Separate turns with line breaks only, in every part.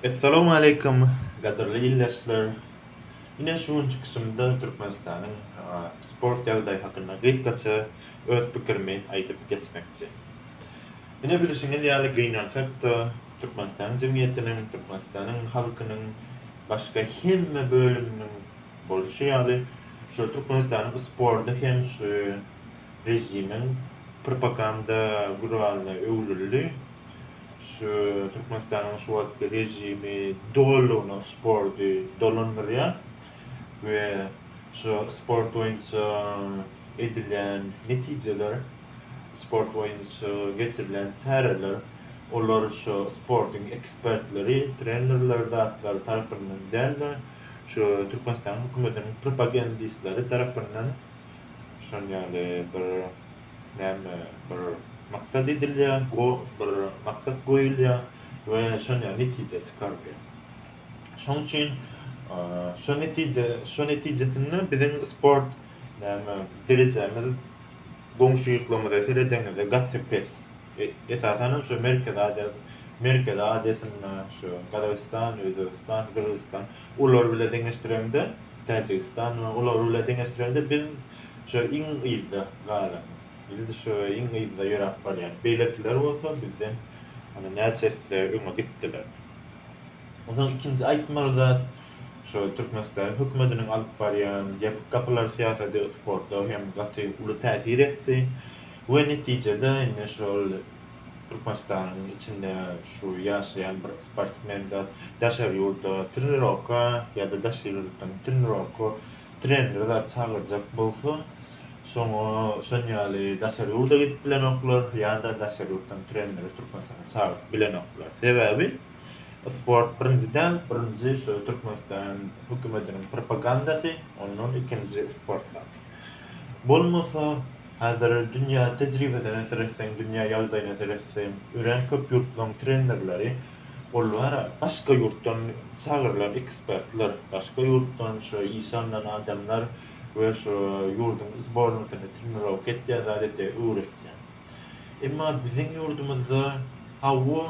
Essalamu aleýkum, gadyrly ildeşler! Ine şu gün çykyşymda Türkmenistanyň sport ýagdaýy hakynda gysgaça öz pikirimi aýdyp geçmekçi. Ine bilşiňiz ýaly gynansak-da, Türkmenistanyň jemgyýetiniň, Türkmenistanyň halkynyň başga hemme bölüminiň bolşy ýaly, şu Türkmenistanyň sporty hem şu režimiň propaganda guralyna öwrüldi. Şu Türkmenistanyň şu wagtky režimi dolulygyna sporty dolandyrýar we şu sport boýunça edilýän netijeler, sport boýunça geçirilýän çäreler, olar şu sportuň ekspertleri, trenerleri zatlar tarapyndan däl-de, şu Türkmenistanyň hökümetiniň propagendistleri tarapyndan şon ýaly bir näme bir maksat edilýär, go bir maksat goýulýar we şonýa netije çykarylýar. Şoň üçin şo netije, şo netijesinde biziň sport näme derejämiz goňşy ýurtlarymyza seredeňizde gaty pes. Esasan hem şu Merkezi Aziýa, Merkezi Aziýasynda şu Gazagystan, Özbegistan, Gyrgyzystan ular bile deňeşdireňde, Täjigistan we ular bile deňeşdireňde biz şu iň yzda galan. Biz şu iň yzda ýöräp barýan. Beýlekiler bolsa bizden hany näçe esse öňe gitdiler. Onsoň ikinji aýtmaly zat şu Türkmenistanyň hökümetiniň alyp barýan ýapyk gapylar syýasaty sporta hem gaty uly täsir etdi. We netijede indi şol Türkmenistanyň içinde şu ýaşaýan bir sportsmen zat daşary ýurda trenirowka ýa-da daşary ýurtdan trenirowka treneri zat çagyrjak bolsa, şoňa şon ýaly daşary ýurda gidip bilenoklar ýa-da daşary ýurtdan treneri Türkmenistana çagyryp bilenoklar. Sebäbi sport birinji däl, birinji şu Türkmenistan hökümetiniň propagandasy, ondan ikinji sport zat. Bolmasa, Häzir dünýä tejribesine seretseň, dünýä ýagdaýyna seretseň, örän köp ýurtlaryň trenerleri, olary başga ýurtdan çagyrylan ekspertler, başga ýurtdan şu işe alnan adamlar we şu ýurduň sbornasyny trenirowka etýär, zat etýär, öwretýär. Emma biziň ýurdumyzda, hawa,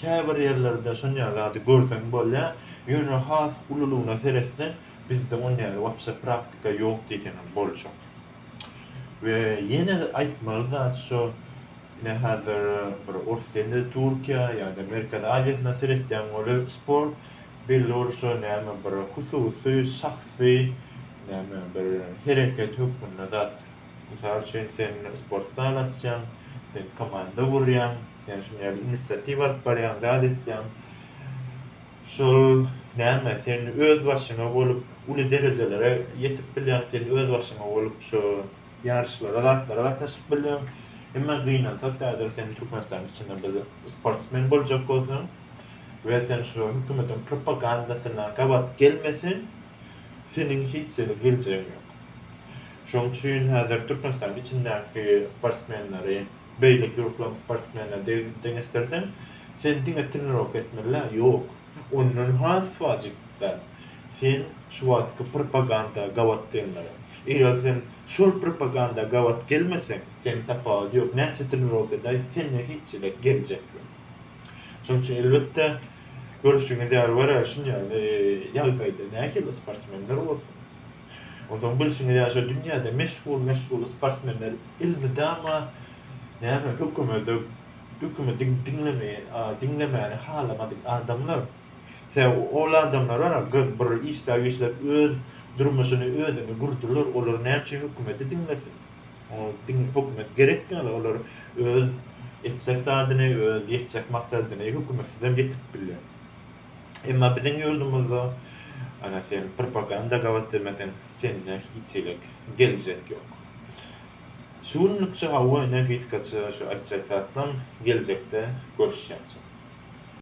käbir ýerlerde şonýaly zady görseň bolýar, ýöne has ululygyna seretseň, bizde onýaly wapşe praktika ýok diýseň hem boljak. We ýene aýtmaly zat şo, ine hazir bir ors ýene-de Türkiýä ýa-da Merkezi Aziýasyna seretýäň ol-a sport bellorusça näme bir hususy, şahsy näme bir hereket hökmünde zat. Mysal üçin sen sport zal açýaň, sen komanda gurýaň, sen şuny ýaly inisiatiwa alyp barýaň, zat etýäň. Şol näme sen öz başyňa bolup uly derejelere ýetip bilýäň sen öz başyňa bolup şo ýaryşlara zatlara gatnaşyp bilýäň emma gynansak häzir sen Türkmenistanyň içinde bir sportsmen boljak bolsaň we sen şu hökümetiň propagandasyna gabat gelmeseň seniň hiç ýere geljegiň ýok şoň üçin häzir Türkmenistanyň içindäki sportsmenleri Beýleki ýurtlaryň sportsmenleri bilen deňeşdirseň, sen diňe trenirowka etmeli-dä? Ýok. Ondan has wajyp zat, sen şu wagtky propaganda gabat gelmeli. Eger sen şol propaganda gabat gelmeseň, seniň tapawudy ýok. Näçe trenirowka edäý, sende hiç hili geljek ýok. Şonuň üçin, elbetde, görşüňiz ýaly, görä şunýaly ýagdaýda nähili sportsmenler bolsun? Onsoň bilşiňiz ýaly şo dünýäde meşhur meşhur sportsmenler elmydama näme hökümede hökümedi diňlemeýe diňlemäni halamadyk adamlar. Sebäbi ol adamlar bar a bir işläp işläp öz durmuşyny özüni gurdylar olar näme üçin hökümedi diňlesin. Hökümet gerek ýaly olar öz etjek zadyny öz ýetjek maksadyny hökümetsizem ýetip bilýär. Emma biziň ýurdumyzda ana sen propaganda gabat demeseň, sende hiç hilik geljek ýok. Şu günlükçe hawa ene gysgaça şu aýtjak zatlaň geljekde görüşýänçä.